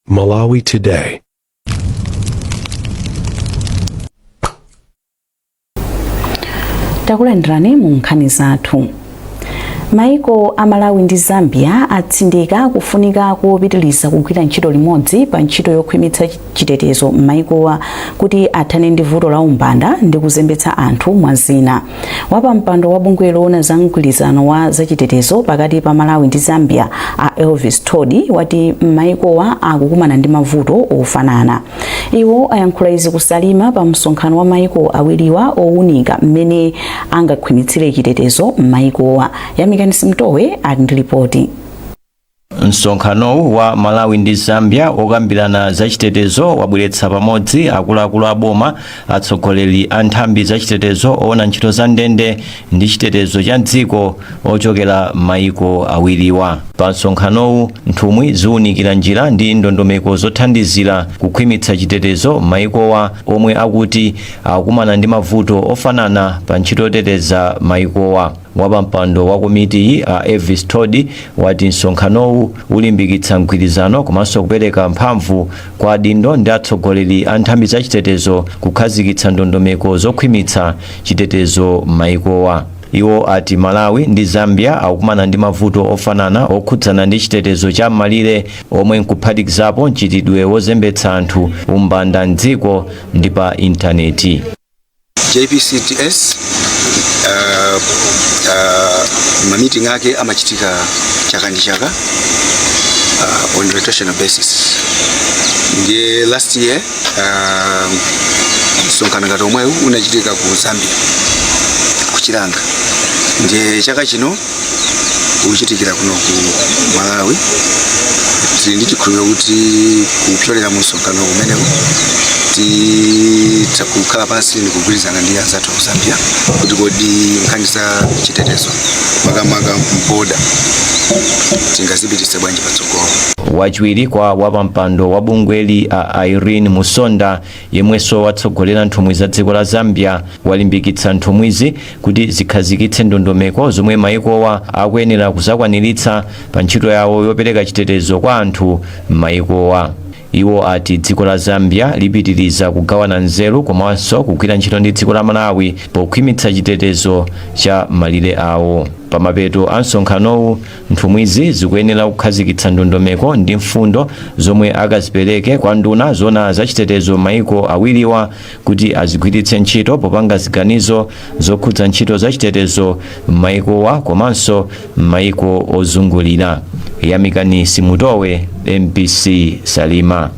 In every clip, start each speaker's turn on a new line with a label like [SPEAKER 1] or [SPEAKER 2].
[SPEAKER 1] Malawi Today.
[SPEAKER 2] takulandirani mu nkhani zathu maiko a malawi ndi zambia atsindika kufunika kopitiliza kugwira ntchito limodzi pa ntchito yokhwimitsa chitetezo m'maikowa kuti athane ndi vuto la umbanda ndi kuzembetsa anthu mwa zina wapampando wa bungwe loona za mgwirizano wa zachitetezo pakati pa malawi ndi zambia a elvis thodi wati m'mayikowa akukumana ndi mavuto ofanana iwo ayankhula izi ku salima pa msonkhano wa mayiko awiriwa owunika mmene angakhwimitsire chitetezo m'mayikowa yamikani simtowe ali ndi lipoti
[SPEAKER 3] Msonkhanowu wa Malawi ndi Zambia wokambirana za chitetezo wabweretsa pamodzi akuluakulu a boma, atsogoleri a nthambi za chitetezo, owona ntchito za ndende ndi chitetezo cha m'dziko ochokera m'mayiko awiriwa. Pa msonkhanowu, nthumwi ziwunikira njira ndi ndondomeko zothandizira kukhwimitsa chitetezo m'mayikowa omwe akuti akukumana ndi mavuto ofanana pa ntchito yoteteza mayikowa. Wapampando wa komitiyi, a Elvis Thodi, wati msonkhanowu ulimbikitsa mgwirizano komanso kupereka mphamvu kwa adindo ndi atsogoleri a nthambi za chitetezo kukhazikitsa ndondomeko zokhwimitsa chitetezo m'mayikowa. Iwo ati Malawi ndi Zambia akukumana ndi mavuto ofanana okhudzana ndi chitetezo cha m'malire omwe n'kuphatikizapo mchitidwe wozembetsa anthu, umbanda m'dziko ndi pa intaneti.
[SPEAKER 4] JPCTS uh, uh, mamiting ake amachitika chaka ndi chaka uh, on rotational basis ndiye last year uh, msonkhano ngati omwewu unachitika ku zambia ku chilanga ndiye chaka chino uchitikira kuno ku malawi tili ndi chikhulupiriro kuti kupyolera mu msonkhano umenewu titha kukhala pansi ndi kugwirizana ndi anzathu aku zambia kuti kodi nkhani za chitetezo makamaka m'border tingazipititse bwanji patsogolo wachiwiri
[SPEAKER 3] kwa wapampando wa bungweli a irene musonda yemwenso watsogolera nthumwi za dziko la zambia walimbikitsa nthumwizi kuti zikhazikitse ndondomeko zomwe mayikowa akuyenera kuzakwaniritsa pa ntchito yawo yopereka chitetezo kwa anthu m'mayikowa iwo ati dziko la zambia lipitiriza kugawana nzeru komanso kugwira ntchito ndi dziko la malawi pokhwimitsa chitetezo cha m'malire awo pamapeto a msonkhanowu nthumwizi zikuyenera kukhazikitsa ndondomeko ndi mfundo zomwe akazipereke kwa nduna zoona za chitetezo m'maiko awiriwa kuti azigwiritse ntchito popanga ziganizo zokhudza ntchito zachitetezo m'mayikowa komanso m'mayiko ozungulira yamikani simutowe mbc
[SPEAKER 2] salima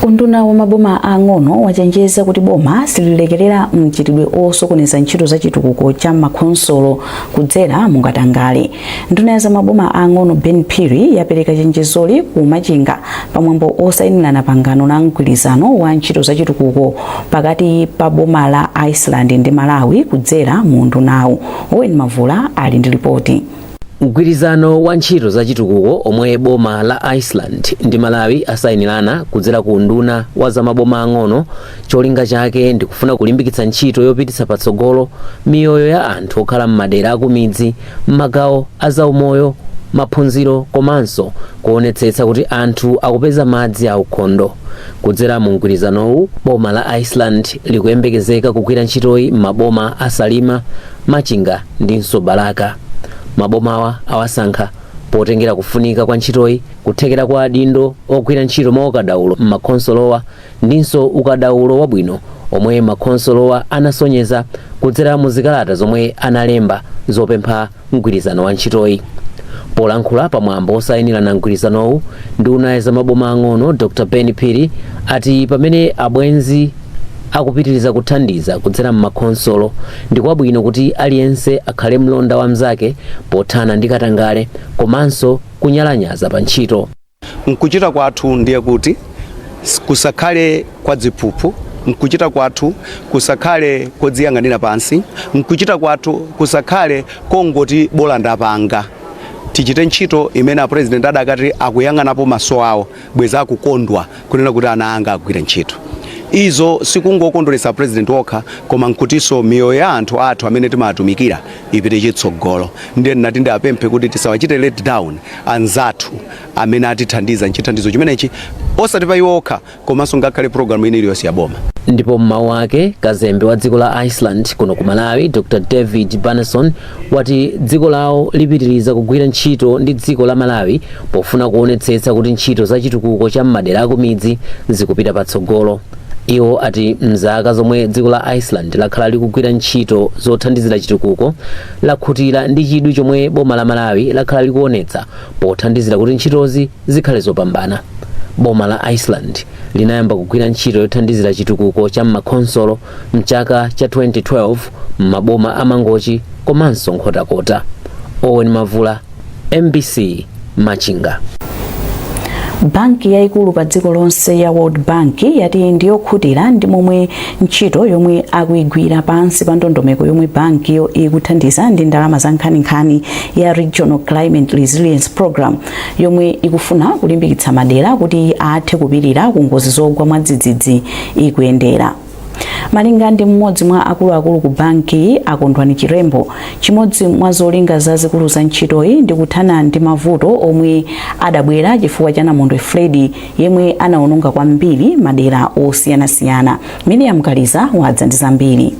[SPEAKER 2] unduna wa maboma ang'ono wachenjeza kuti boma sililekerera mchitidwe osokoneza ntchito za chitukuko cha makhonsolo kudzera mu katangale Nduna ya zamaboma aang'ono Ben Phiri yapereka chenjezoli ku Machinga pamwambo osayinirana pangano la mgwirizano wa ntchito zachitukuko pakati pa boma la Iceland ndi Malawi kudzera mu undunawu. Owen Mavula ali ndi lipoti. Mgwirizano
[SPEAKER 5] wa ntchito zachitukuko omwe boma la Iceland ndi Malawi asayinirana kudzera ku unduna wa zamaboma ang'ono cholinga chake ndikufuna kulimbikitsa ntchito yopititsa patsogolo miyoyo ya anthu okhala m'madera akumidzi m'magawo a zaumoyo, maphunziro komanso kuonetsetsa kuti anthu akupeza madzi aukhondo. Kudzera mu mgwirizanowu, boma la Iceland likuyembekezeka kugwira ntchitoyi m'maboma a Salima, Machinga ndinso Balaka. Mabomawa awasankha potengera kufunika kwa ntchitoyi, kuthekera kwa adindo ogwira ntchito mwaukadaulo m'makhonsolowa, ndinso ukadaulo wabwino omwe makhonsolowa anasonyeza kudzera mu zikalata zomwe analemba zopempha mgwirizano wa ntchitoyi. Polankhula pa mwambo wosainirana mgwirizanowu, nduna ya za maboma ang'ono Dr Ben Phiri ati pamene abwenzi akupitiriza kuthandiza kudzera m'makhonsolo ndi kwabwino kuti aliyense akhale mlonda wa mnzake pothana ndi katangale komanso kunyalanyaza pa ntchito.
[SPEAKER 6] Mkuchita kwathu ndiye kuti kusakhale kwa dziphuphu, mkuchita kwathu kusakhale kodziyang'anira pansi, mkuchita kwathu kusakhale kongoti bola ndapanga. Tichite ntchito imene a President adakati akuyang'anapo maso awo bweza akukondwa kunena kuti ana anga agwire ntchito. Izo sikungokondweretsa a President okha koma nkutinso miyoyo ya anthu athu amene timatumikira ipite chitsogolo. Ndiye ndinati ndiapemphe kuti tisawachite let down. anzathu amene atithandiza nchithandizo chimenechi osati pa iwo okha komanso ngakhale programu ina iliyonse ya boma ndipo m'mawu ake
[SPEAKER 5] kazembe wa dziko la iceland kuno ku malawi dr david bjarnason wati dziko lawo lipitiriza kugwira ntchito ndi dziko la malawi pofuna kuonetsetsa kuti ntchito za chitukuko cha m'madera akumidzi zikupita patsogolo iwo ati mzaka zomwe dziko la iceland lakhala likugwira ntchito zothandizira chitukuko lakhutira ndi chidwi chomwe boma la Malawi lakhala likuonetsa pothandizira kuti ntchitozi zikhale zopambana. Boma la Iceland linayamba kugwira ntchito yothandizira chitukuko cha m'makhonsolo mchaka cha 2012 m'maboma a Mangochi komanso Nkhotakota. Owen Mavula mbc machinga
[SPEAKER 2] banki yayikulu pa dziko lonse ya world bank yati ndiyokhutira ndi momwe ntchito yomwe akuyigwira pansi pa ndondomeko yomwe bankiyo ikuthandiza ndi ndalama za nkhaninkhani ya regional climate resilience program yomwe ikufuna kulimbikitsa madera kuti athe kupirira ku ngozi zogwa mwadzidzidzi ikuyendera Malinga ndi mmodzi mwa akuluakulu ku bankiyi a Kondwani Chirembo, chimodzi mwa zolinga zazikulu za ntchitoyi ndi kuthana ndi mavuto omwe adabwera chifukwa cha namondwe Freddy yemwe anaononga kwambiri madera osiyanasiyana. Miriam Kaliza wadza ndi zambiri.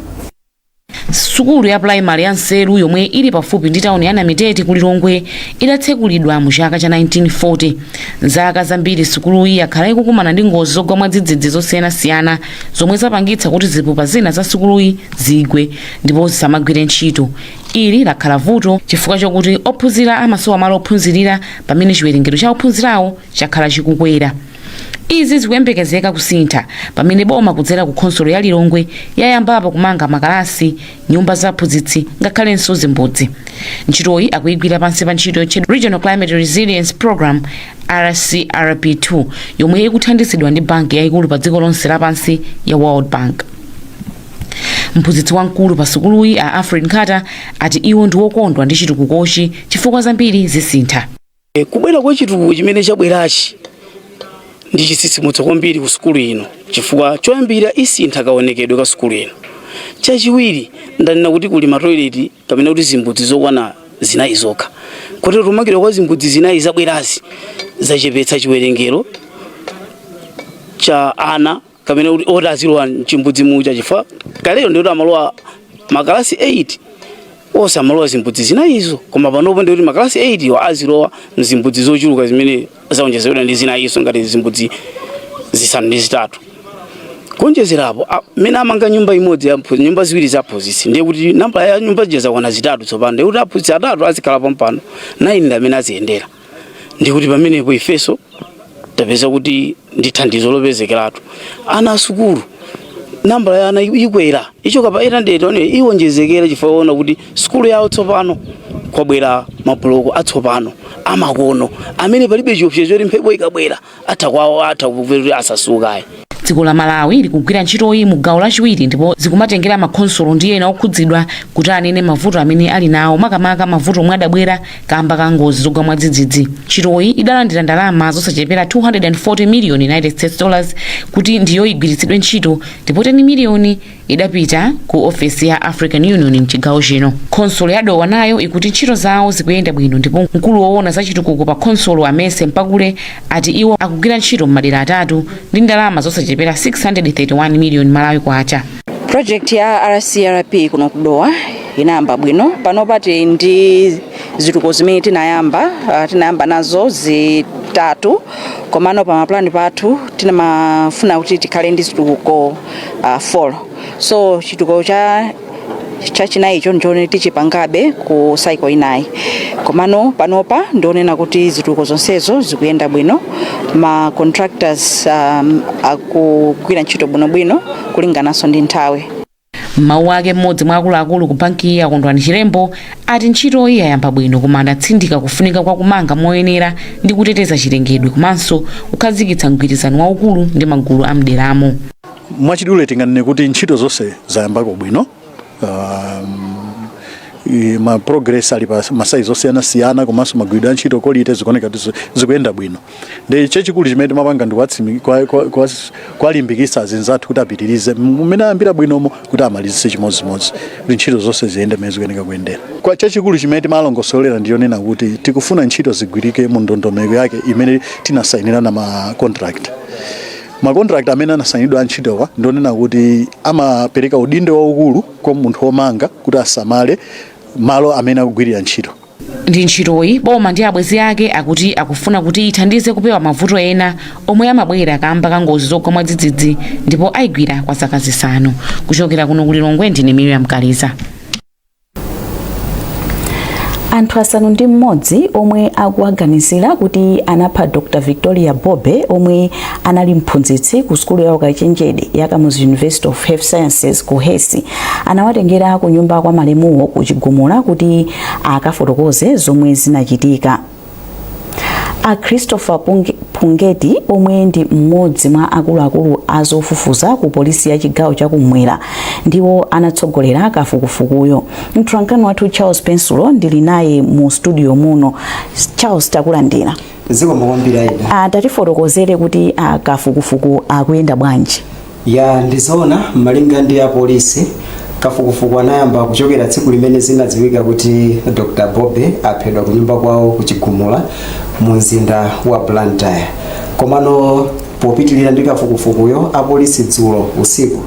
[SPEAKER 1] Sukulu ya primary ya Nseru yomwe ili pafupi ndi tawuni ya Namitete ku Lilongwe idatsekulidwa mu chaka cha 1940. Mzaka zambiri sukuluyi yakhala ikukumana ndi ngozi zogwa mwadzidzidzi zosiyanasiyana zomwe zapangitsa kuti zipupa zina za sukuluyi zigwe ndipo zisamagwire ntchito. Ili lakhala vuto chifukwa chokuti ophunzira amasowa malo ophunzirira pamene chiwerengero cha ophunzirawo chakhala chikukwera. izi zikuyembekezeka kusintha pamene boma kudzera ku khonsolo ya lilongwe yayambapo kumanga makalasi nyumba za aphunzitsi ngakhalenso zimbudzi ntchitoyi akuyigwira pansi pa ntchito yotchedwa regional climate resilience program rcrp2 yomwe ikuthandizidwa ndi banki yayikulu pa dziko lonse lapansi ya world bank mphunzitsi wamkulu pa sukuluyi a alfred nkhata ati iwo ndi okondwa ndi chitukukochi chifukwa zambiri zisintha E, kubwera kwa
[SPEAKER 7] chitukuko chimene chabwerachi ndi chitsitsimutso kwambiri ku sukulu ino chifukwa choyambira isintha kaonekedwe ka sukulu ino. Chachiwiri ndanena kuti kuli matoileti kapena kuti zimbudzi zokwana zinayi zokha kotero kumangidwa kwa zimbudzi zinayi zabwerazi zachepetsa chiwerengero cha ana kapena kuti oti azilowa mchimbudzi muja chifukwa kalero ndikuti amalowa makalasi 8 onse amalowa zimbudzi zinayizo koma panopo ndikuti makalasi 8 iwo azilowa mzimbudzi zochuluka zimene zaonjezedwa ndi zinayizo ngati zimbudzi zisanu ndi zitatu kuonjezerapo a- mmene amanga nyumba imodzi ya mphu- nyumba ziwiri za aphunzitsi ndiye kuti nambala ya nyumba zija zakwana zitatu tsopano ndiye kuti aphunzitsi atatu azikhala pompano 9 ndi amene aziyendera ndikuti pamenepo ifeso tapeza kuti ndi thandizo lopezekeratu ana asukulu nambala ya ana ikwera ichoka pa 800 iwonjezekera chifukwa aona kuti sukulu yawo tsopano kwabwera mabuloko atsopano amakono amene palibe chiopsezo choti mphepo ikabwera atha kwawo atha kupupirira asasukayo dziko la malawi
[SPEAKER 1] likugwira ntchitoyi mu gawo lachiwiri ndipo zikumatengera makhonsolo ndi ena okhudzidwa kuti anene mavuto amene ali nawo makamaka mavuto omwe adabwera kamba ka ngozi zogwa mwadzidzidzi ntchitoyi idalandira ndalama zosachepera 240 miliyoni united states dollars kuti ndiyo igwiritsidwe ntchito ndipo 10 miliyoni idapita ku ofesi ya african union mchigawo chino khonsolo ya dowa nayo ikuti ntchito zawo zikuyenda bwino ndipo mkulu woona za chitukuko pa khonsolo amese mpakule ati iwo akugwira ntchito m'madera atatu ndi ndalama zosachepera 631 miliyoni malawi kwacha project
[SPEAKER 8] ya rcrp kuno kudowa inayamba bwino panopa ti ndi zitukuko zimene tinayamba uh, tinayamba nazo zitatu komano pa mapulani pathu tinkafuna kuti tikhale ndi zitukuko uh, four so chitukuko cha chachinayi icho ndichoona tichipangabe ku cycle inayi komano panopa ndionena kuti zitukuko zonsezo zikuyenda bwino ma contractors um, akugwira ntchito bwinobwino kulingananso ndi nthawi m'mawu ake
[SPEAKER 1] mmodzi mwa akuluakulu ku bankiyi a Kondwani chilembo ati ntchitoyi yayamba bwino koma adatsindika kufunika kwa kumanga moyenera ndi kuteteza chilengedwe komanso kukhazikitsa mgwirizano waukulu ndi magulu a mderamo. mwachidule
[SPEAKER 9] tinganene kuti ntchito zonse zayambako bwino um, i- ma progress ali pa masaizi osiyanasiyana komanso magwiridwe a ntchito kolite zikuoneka kuti zi- zikuyenda bwino ndi chachikulu chimene timapanga ndi kuwatsimi- kwa- kwa- kwa- kuwalimbikitsa azinzathu kuti apitirize mmene ayambira bwinomo kuti amalizitse chimodzimodzi kuti ntchito zonse ziyende mmene zikuyenera kuyendera koma chachikulu chimene timalongosolera ndi chonena kuti tikufuna ntchito zigwirike mu ndondomeko yake imene tinasayinirana ma contract makontrakt amene anasayinidwa antchitowa ndionena kuti amapereka udindo waukulu kwa munthu womanga kuti asamale malo amene akugwirira ntchito ndi
[SPEAKER 1] ntchitoyi, boma ndi abwenzi ake akuti akufuna kuti ithandize kupewa mavuto ena omwe amabwera kaamba ka ngozi zogwa mwadzidzidzi ndipo ayigwira kwa zaka zisanu. Kuchokera kuno ku Lilongwe ndine Miriam Kaliza.
[SPEAKER 2] anthu asanu ndi mmodzi omwe akuwaganizira kuti anapha dr victoria bobe omwe anali mphunzitsi ku sukulu ya ukachenjede ya kamuzu university of health sciences KUHeS anawatengera ku nyumba kwa malemuwo ku chigumula kuti akafotokoze zomwe zinachitika a christopher Punge- pungeti omwe ndi mmodzi mwa akuluakulu a zofufuza ku polisi ya chigawo chakumwera ndiwo anatsogolera kafukufukuyo mtolankhani wathu charles pensulo ndili naye mu studio muno charles takulandira zikomo kwambiri
[SPEAKER 10] aida tatifotokozere kuti
[SPEAKER 2] kafukufuku akuyenda bwanji Ya ndi
[SPEAKER 10] zoona malinga ndi apolisi, kafukufuku anayamba kuchokera tsiku limene zinadziwika kuti Dr Bobe aphedwa kunyumba kwawo ku Chigumula mu mzinda wa Blantyre. Komano popitirira ndi kafukufukuyo, apolisi dzulo usiku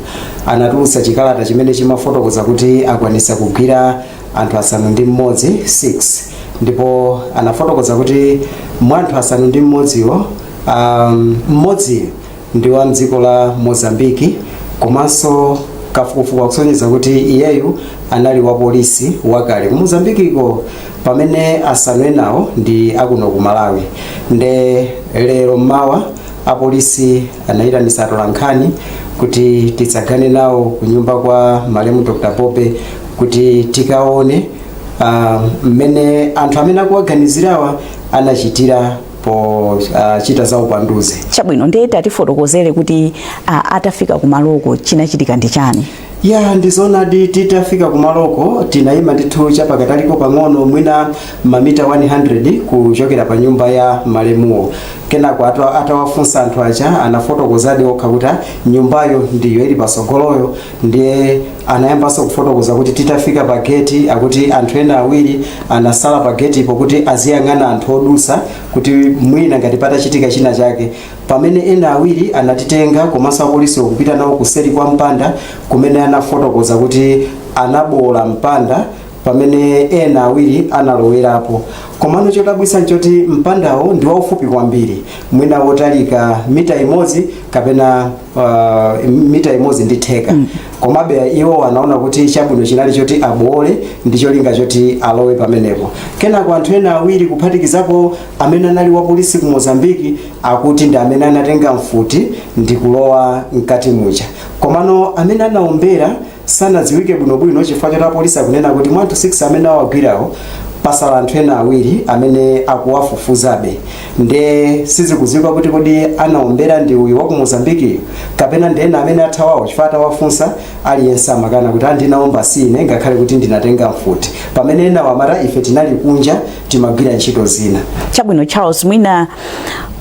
[SPEAKER 10] anatulutsa chikalata chimene chimafotokoza kuti akwanitsa kugwira anthu asanu ndi mmodzi 6 ndipo anafotokoza kuti mwa anthu asanu ndi mmodziwo um, mmodziyo ndi wa mdziko la Mozambique komanso kafukufuku akusonyeza kuti iyeyu anali wa polisi wakale ku Mozambiqueko pamene asanu enawo ndi akuno ku Malawi nde lero mmawa apolisi anayitanitsa atolankhani kuti titsagane nawo ku nyumba kwa malemu Dr. Bobe kuti tikaone ah, mmene anthu amene akuwaganizirawa anachitira pochita uh, za upanduzi. Chabwino,
[SPEAKER 2] ndiye tatifotokozere kuti uh, atafika kumaloko chinachitika ndi chani? ya ndi
[SPEAKER 10] zoonadi titafika kumaloko tinayima ndithu chapakataliko pang'ono mwina mamita 100 kuchokera pa nyumba ya malemuwo kenako atawafunsa anthu aja anafotokozadi okha kuti nyumbayo ndiyo ili patsogoloyo ndiye anayambanso kufotokoza kuti titafika pa geti akuti anthu ena awiri anatsala pa getipo kuti aziyang'ana anthu odutsa kuti mwina ngati patachitika china chake pamene ena awiri anatitenga komanso apolisi okupita nawo kuseri kwa mpanda kumene anafotokoza kuti anaboola mpanda pamene ena awiri analowerapo komano chodabwitsa nchoti mpandawo ndi waufupi kwambiri mwina wotalika mita imodzi kapena uh, mita imodzi ndi theka mm. komabe iwo anaona kuti chabwino chinali choti aboole ndi cholinga choti alowe pamenepo kenako anthu ena awiri kuphatikizapo amene anali wa polisi ku mozambiki akuti ndi amene anatenga mfuti ndi kulowa mkati muja komano amene anaombera sanadziwike bwinobwino chifukwa choti apolisi akunena kuti mwa anthu 6 amene awagwirawo patsala anthu ena awiri amene akuwafufuzabe nde sizikudziwika kuti kodi anaombera ndi uyu wa ku mozambikiyu kapena ndi ena amene athawawo chifukwa atawafunsa aliyense amakana kuti aa sindinaombe sine ngakhale kuti ndinatenga mfuti pamene enawo amati ife tinali kunja timagwira ntchito zina chabwino charles
[SPEAKER 2] mwina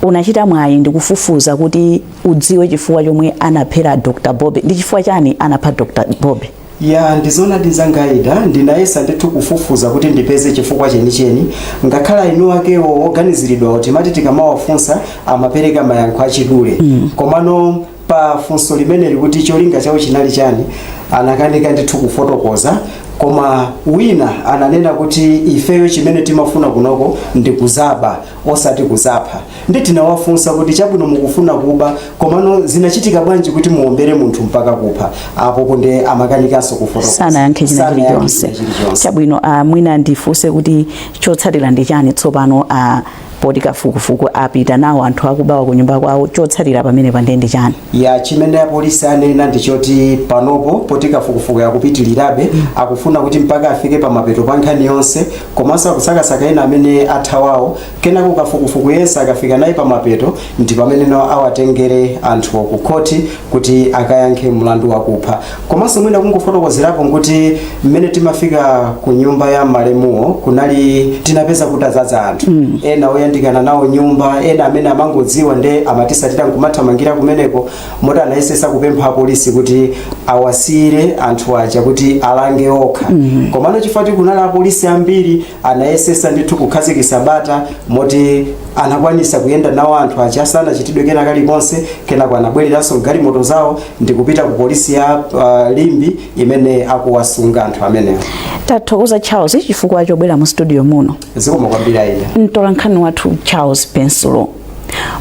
[SPEAKER 2] unachita mwayi ndikufufuza kuti udziwe chifukwa chomwe anaphera Dr Bobe ndi chifukwa chani anapha Dr Bobe ya ndi
[SPEAKER 10] zoona Tizangaida ndinayesa ndithu kufufuza kuti ndipeze chifukwa chenicheni ngakhale eni akewo oganiziridwawo timati tikamawafunsa amapereka mayankho achidule mm. komano pa funso limeneli kuti cholinga chawo chinali chani anakanika ndithu kufotokoza koma wina ananena kuti ifeyo chimene timafuna kunoko ndi kudzaba osati kudzapha nde tinawafunsa kuti chabwino mukufuna kuba komano zinachitika bwanji kuti muombere munthu mpaka kupha apo nde amakanikanso kufotokoza sanayankhe china Sanayankhe
[SPEAKER 2] chilichonse china chilichonse. chabwino ah, mwina ndifunse kuti chotsatira ndi chani tsopano ah, poti kafukufuku apita nawo anthu akubawa ku nyumba kwawo chotsatira pamenepa nde ndi chani ya
[SPEAKER 10] chimene apolisi anena ndi choti panopo poti kafukufuku akupitirirabe akufuna kuti mpaka afike pamapeto pa nkhani yonse komanso akusakasaka ena amene athawawo kenako kafukufuku yense akafika naye pamapeto ndi pamene no awatengere anthuwo ku khoti kuti akayankhe mlandu wakupha komanso mwina kungofotokozerapo nkuti mmene timafika ku nyumba ya malemuwo kunali tinapeza kutadzaza anthu ena oyandikana nawo nyumba ena amene amangodziwa nde amatisatira nkumathamangira kumeneko moti anayesesa kupempha apolisi kuti awasiyire anthu aja kuti alange okha komano chifukwa kuti kunali apolisi ambiri anayesesa ndithu kukhazikisa bata moti anakwanisa kuyenda nawo anthu aja sanachitidwe kena kalikonse kenako anabwereranso galimoto zawo ndikupita ku polisi ya uh, limbe imene akuwasunga anthu amenewo
[SPEAKER 2] tathokoza charles chifukwa chobwera mu studio muno zikomo kwambiri
[SPEAKER 10] aida mtola nkhani
[SPEAKER 2] wathu charles pensulo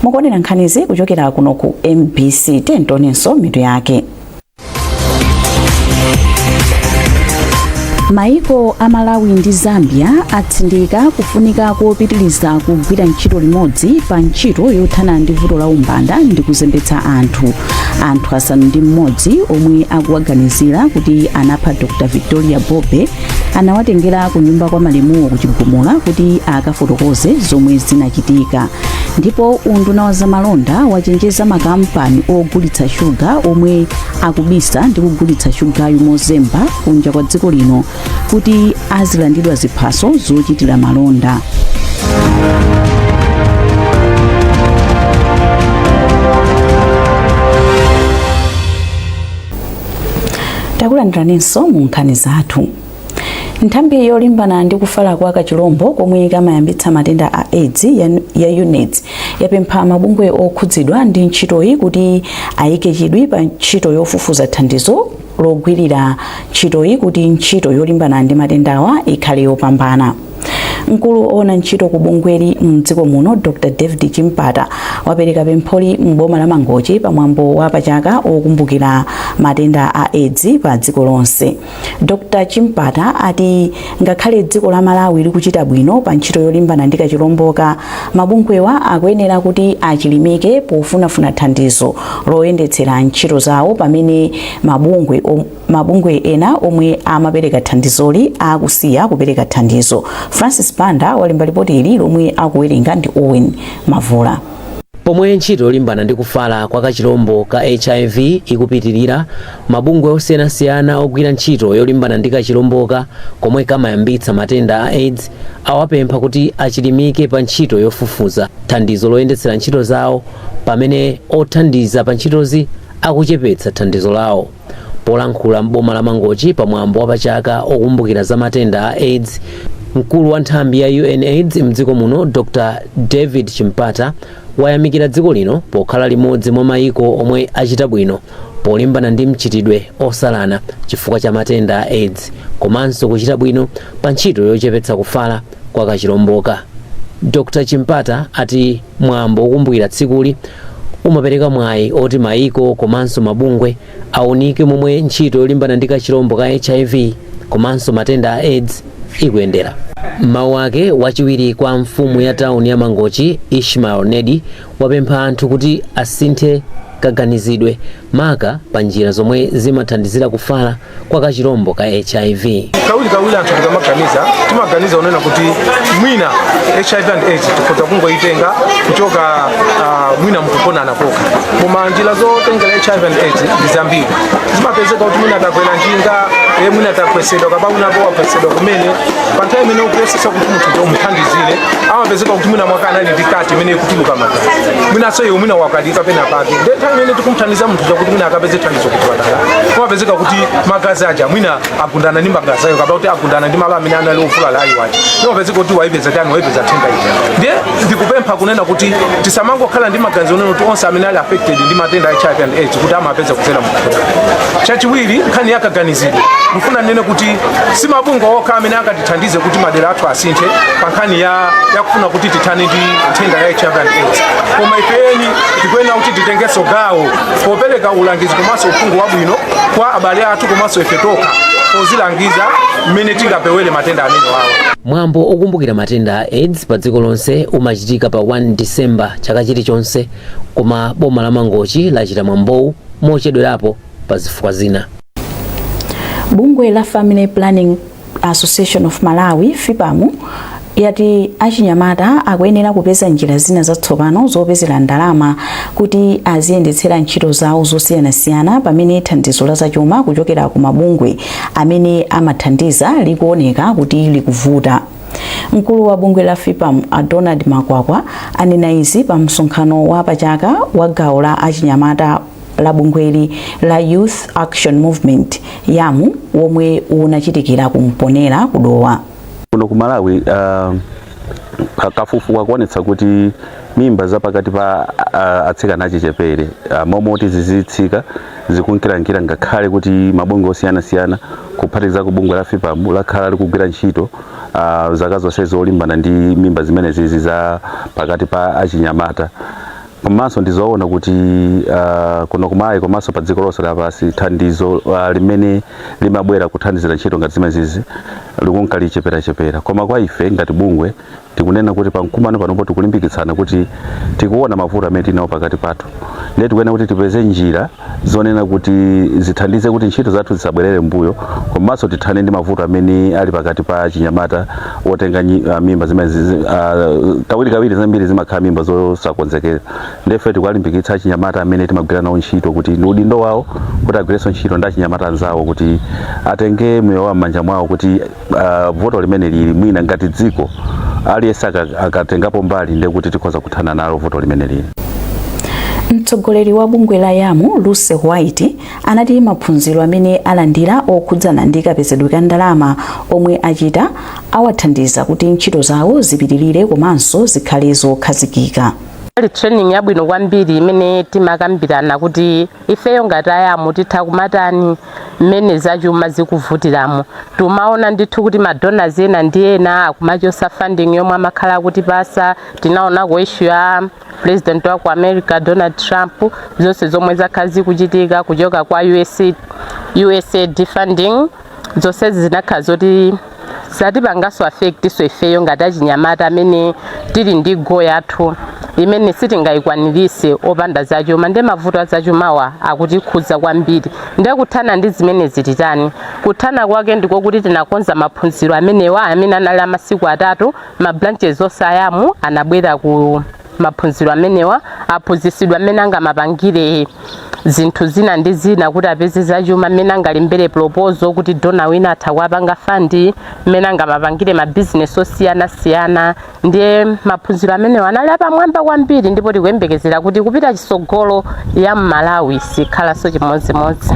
[SPEAKER 2] mukuonera nkhanizi kuchokera kuno ku mbc timvenso mitu yake maiko a malawi ndi zambia atsindika kufunika kopitiriza kugwira ntchito limodzi pa ntchito yothana ndi vuto la umbanda ndi kuzembetsa anthu anthu asanu ndi mmodzi omwe akuwaganizira kuti anapha dr victoria bobe anawatengera ku nyumba kwa malemuwo ku chigumula kuti akafotokoze zomwe zinachitika ndipo unduna wa zamalonda wachenjeza makampani ogulitsa shuga omwe akubisa ndi kugulitsa shugayu mozemba kunja kwa dziko lino kuti azilandidwa ziphaso zochitira malonda takulandiraninso mu nkhani zathu Nthambi yolimbana ndi kufala kwa kachilombo komwe kamayambitsa matenda a aids ya UNAIDS yapempha mabungwe okhudzidwa ndi ntchitoyi kuti ayike chidwi pa ntchito yofufuza thandizo logwirira ntchitoyi kuti ntchito yolimbana ndi matendawa ikhale yopambana. Mkulu owona ntchito ku bungweli mdziko muno Dr David Chimpata wapereka pempholi m'boma la Mangochi pamwambo wa pachaka wokumbukira matenda a aids pa dziko lonse. Dr Chimpata ati ngakhale dziko la Malawi likuchita bwino pa ntchito yolimbana ndi kachilomboka, mabungwewa akuyenera kuti achilimike pofunafuna thandizo loyendetsera ntchito zawo pamene mabungwe ena omwe amapereka thandizoli akusiya kupereka thandizo. Francis Banda walemba lipoti ili lomwe akuwerenga ndi Owen Mavula. Pomwe
[SPEAKER 5] ntchito yolimbana ndi kufala kwa kachilombo ka hiv ikupitilira, Mabungwe osiyanasiyana ogwira ntchito yolimbana ndi kachilomboka komwe kamayambitsa matenda a aids awapempha kuti achilimike pa ntchito yofufuza thandizo loyendetsera ntchito zawo pamene othandiza pa ntchitozi akuchepetsa thandizo lawo. Polankhula m'boma la Mangochi pa mwambo wa pachaka okumbukira za matenda a aids, mkulu wa nthambi ya UNAids m'dziko muno Dr David Chimpata wayamikira dziko lino pokhala limodzi mwa maiko omwe achita bwino polimbana ndi mchitidwe osalana chifukwa cha matenda a aids komanso kuchita bwino pa ntchito yochepetsa kufala kwa kachilomboka dr chimpata ati mwambo wokumbukira tsikuli umapereka mwayi oti mayiko komanso mabungwe aunike momwe ntchito yolimbana ndi kachilombo ka hiv komanso matenda a aids ikuyendera m'mawu ake wachiwiri kwa mfumu ya tauni ya mangochi ishmael nedi wapempha anthu kuti asinthe kaganizidwe maka pa njira zomwe zimathandizira kufala kwa kachilombo ka hiv. Kawirikawiri anthu
[SPEAKER 11] tikamaganiza timaganiza kunena kuti mwina hiv and aids tikhoza kungoyitenga kuchoka ah, mwina mukugonana kokha koma njira zotengera hiv and aids ndi zambiri zimapezeka kuti mwina takwera njinga e mwina tagwetsedwa kapena unapo wagwetsedwa kumene pa nthawi imene ukuyesesa kuti munthu umuthandizire amapezeka kuti mwina mwake anali ndi cut imene ikutuluka magazi mwinanso iwe mwina wakalika pena pake nde nthawi imene tikumthandiza munthu uja kuti mwina akapeze thandizo kuchipatala amapezeka kuti magazi aja mwina agundana ndi magazi ako kapena kuti agundana ndi malo amene anali ovulala a iwe aja amapezeka kuti waipeza tani waipeza nthenda ija ndiye ndikupempha kunena kuti tisamangokhala ndi maganizo onena kuti onse amene ali affected ndi matenda a hiv and aids kuti amapeza kudzera mukugonana chachiwiri nkhani yakaganizidwe ndikufuna ndinene kuti si mabungwe okha amene akati tithandize kuti madera athu asinthe pa nkhani ya yakufuna kuti tithane ndi nthenda ya hiv and aids koma ife eni tikuyenera kuti titengenso gawo popereka ulangizi komanso uphungu wabwino kwa abale athu komanso ife tokha pozilangiza mmene tingapewere matenda amenewawa mwambo
[SPEAKER 5] okumbukira matenda a aids pa dziko lonse umachitika pa 1 december chaka chilichonse koma boma la mangochi lachita mwambowu mochedwerapo pa zifukwa zina
[SPEAKER 2] bungwe la family planning Association of Malawi, FPAM, yati achinyamata akuyenera kupeza njira zina zatsopano zopezera ndalama kuti aziyendetsera ntchito zawo zosiyanasiyana pamene thandizo la zachuma kuchokera ku mabungwe amene amathandiza likuoneka kuti likuvuta. Mkulu wa bungwe la FPAM a Donald Makwakwa anena izi pa msonkhano wa pachaka wa gawo la achinyamata la bungwe lija la Youth Action Movement, YAM, womwe unachitikira ku Mponela ku Dowa. Kuno ku Malawi
[SPEAKER 12] uh, ka- kafukufuku akuonetsa kuti mimba za pakati pa uh, atsikana achichepere uh, m'malo moti zizitsika zikunkirankira ngakhale kuti mabungwe osiyanasiyana kuphatikizapo bungwe la FPAM lakhala likugwira ntchito uh, zaka zonse zolimbana ndi mimba zimenezizi za pakati pa achinyamata komanso ndizoona kuti uh, kuno ku Malawi komanso pa dziko lonse lapansi thandizo uh, limene limabwera kuthandizira ntchito ngati zimenezizi likunka licheperachepera koma kwa ife ngati bungwe tikunena kuti pamkumano panopo tikulimbikitsana kuti tikuona mavuto amene tinawo pakati pathu ndiye tikuyenera kuti tipeze njira zonena kuti zithandize kuti ntchito zathu zisabwerere m'mbuyo komanso tithane ndi mavuto amene ali pakati pa achinyamata otenga nyi- ah, mimba zimenezizi ah, kawirikawiri zambiri zimakhala mimba zosakonzekera ndiye tikuwalimbikitsa achinyamata amene timagwira nawo ntchito kuti ndi udindo wawo kuti agwirenso ntchito ndi achinyamata anzawo kuti atenge miyoyo yawo m'manja mwawo kuti uh, vuto limeneli mwina ngati dziko aliyense aka- akatengapo mbali ndiye kuti tikhoza kuthana nalo vuto limeneli
[SPEAKER 2] mtsogoleri wa bungwe la YAM Lucy White anati maphunziro amene alandira okhudzana ndi kapezedwe ka ndalama omwe achita awathandiza kuti ntchito zawo zipitirire komanso zikhale zokhazikika inali training
[SPEAKER 13] yabwino kwambiri imene timakambirana kuti ifeyo ngati a YAM titha kumatani mmene zachuma zikuvutiramo tumaona ndithu kuti madonors ena ndi ena akumachosa funding yomwe amakhala akutipasa tinaona ku issue ya president wa ku america donald trump zonse zomwe zakhala zikuchitika kuchoka kwa usa, usaid funding zonsezi zinakhala zoti zatipanganso affect-so ifeyo ngati achinyamata amene tili ndi goal yathu imene sitingayikwanirise opanda zachuma ndi mavuto a zachumawa akutikhudza kwambiri ndiye kuthana ndi zimenezi titani kuthana kwake ndiko kuti tinakonza maphunziro amenewa amene anali amasiku atatu ma branches onse a YAM anabwera ku maphunziro amenewa aphunzitsidwa mmene angamapangire zinthu zina ndi zina kuti apeze zachuma mmene angalembere proposal kuti donor wina atha kuwapanga fund mmene angamapangire mabizinesi osiyanasiyana ndiye maphunziro amenewa anali apamwamba kwambiri ndipo tikuyembekezera kuti kupita chisogolo YAM Malawi sikhalanso chimodzimodzi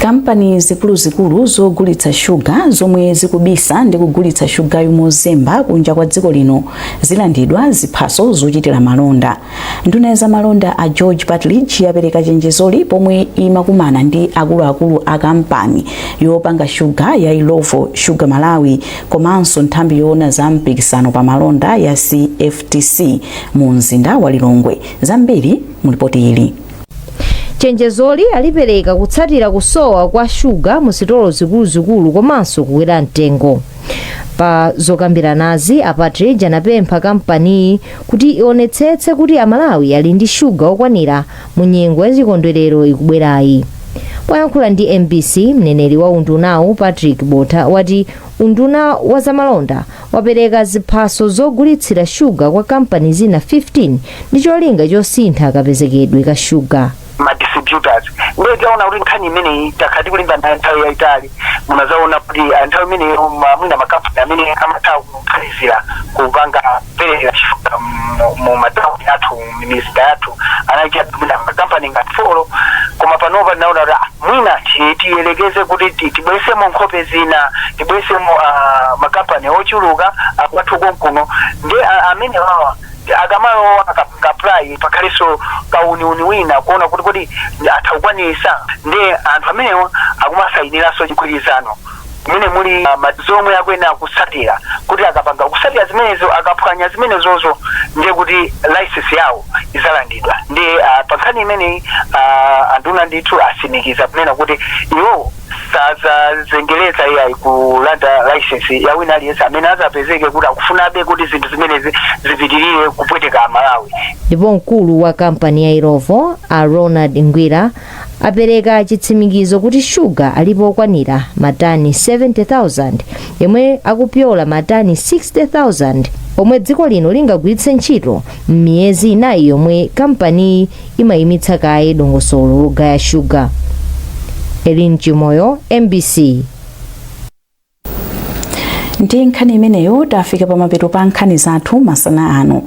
[SPEAKER 13] kampani
[SPEAKER 2] zikuluzikulu zogulitsa shuga zomwe zikubisa ndi kugulitsa shugayu mozemba kunja kwa dziko lino zilandidwa ziphaso zochitira malonda nduna ya zamalonda a george patridge yapereka chenjezoli pomwe imakumana ndi akuluakulu a kampani yopanga shuga ya illovo sugar malawi komanso nthambi yoona za mpikisano pa malonda ya cftc mu mzinda wa lilongwe zambiri mulipoti ili chenjezoli
[SPEAKER 14] alipereka kutsatira kusowa kwa shuga mu sitolo zikuluzikulu komanso kukwera mtengo pa zokambiranazi a patridge anapempha kampaniyi kuti ionetsetse kuti amalawi ali ndi shuga okwanira mu nyengo ya chikondwerero ikubwerayi poyankhula ndi mbc mneneri wa undunawu patrick botha wati unduna wa zamalonda wapereka ziphaso zogulitsira shuga kwa kampani zina 15 ndi cholinga chosintha kapezekedwe ka shuga ma
[SPEAKER 15] distributors ndiye taona kuti nkhani imeneyi takhala tikulimba nayo nthawi yayitali munazaona kuti ah, nthawi imeneyo ma- mwina makampani amene amatha kukhalizira kupanga kupereka shuga mu- mu matauni athu m'misika yathu anali mwina makampani ngati folo koma panopa tinaona kuti ah, mwina ti- tiyelekeze kuti ti- tibwesemo nkhope zina tibwesemo ah, makampani ochuluka akwathu konkuno ndi ah, amene wawa Nde akamalowa akapanga apply pakhalanso kauniuni wina kuona kuti kodi atha kukwanisa nde anthu amenewa akumasayinilanso chigwirizano mmene muli ah, ma- zomwe akuyenera kutsatira kuti akapanda kutsatira zimenezo akaphwanya zimenezozo ndiye kuti license yawo izalandidwa nde ah, pa nkhani imeneyi ah, anduna ndithu asimikiza kunena kuti iwowo sadzazengereza iyayi kulanda license ya wina aliyense amene adzapezeke kuti akufunabe kuti zinthu zimenezi zipitirire kupweteka amalawi ndipo mkulu
[SPEAKER 14] wa kampani ya illovo a ronald ngwira apereka chitsimikizo kuti shuga alipo okwanira matani 70,000 yemwe akupyola matani 60,000 omwe dziko lino lingagwiritse ntchito m'miyezi inayi yomwe kampaniyi imayimitsa kaye dongosolo logaya shuga elin chimoyo mbc
[SPEAKER 2] ndi nkhani imeneyo tafika pamapeto pa nkhani zathu masana ano